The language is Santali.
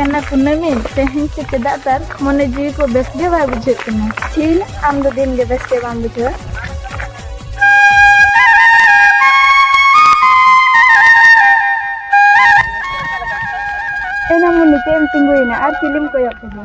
ᱮᱱᱟ ᱠᱩᱱᱟᱹᱢᱤ ᱛᱮᱦᱮᱧ ᱥᱮ ᱪᱮᱫᱟᱜ ᱛᱟᱨ ᱢᱚᱱᱮ ᱡᱤᱣᱤ ᱠᱚ ᱵᱮᱥ ᱜᱮ ᱵᱟᱭ ᱵᱩᱡᱷᱟᱹᱜ ᱠᱟᱱᱟ ᱪᱷᱤᱞ ᱟᱢ ᱫᱚ ᱫᱤᱱ ᱜᱮ ᱵᱮᱥ ᱜᱮ ᱵᱟᱢ ᱵᱩᱡᱷᱟᱹᱣᱟ ᱮᱱᱟ ᱢᱚᱱᱮ ᱪᱮᱫ ᱮᱢ ᱛᱤᱸᱜᱩᱭᱮᱱᱟ ᱟᱨ ᱪᱤᱞᱤᱢ ᱠᱚᱭᱚᱜ ᱠᱮᱫᱟ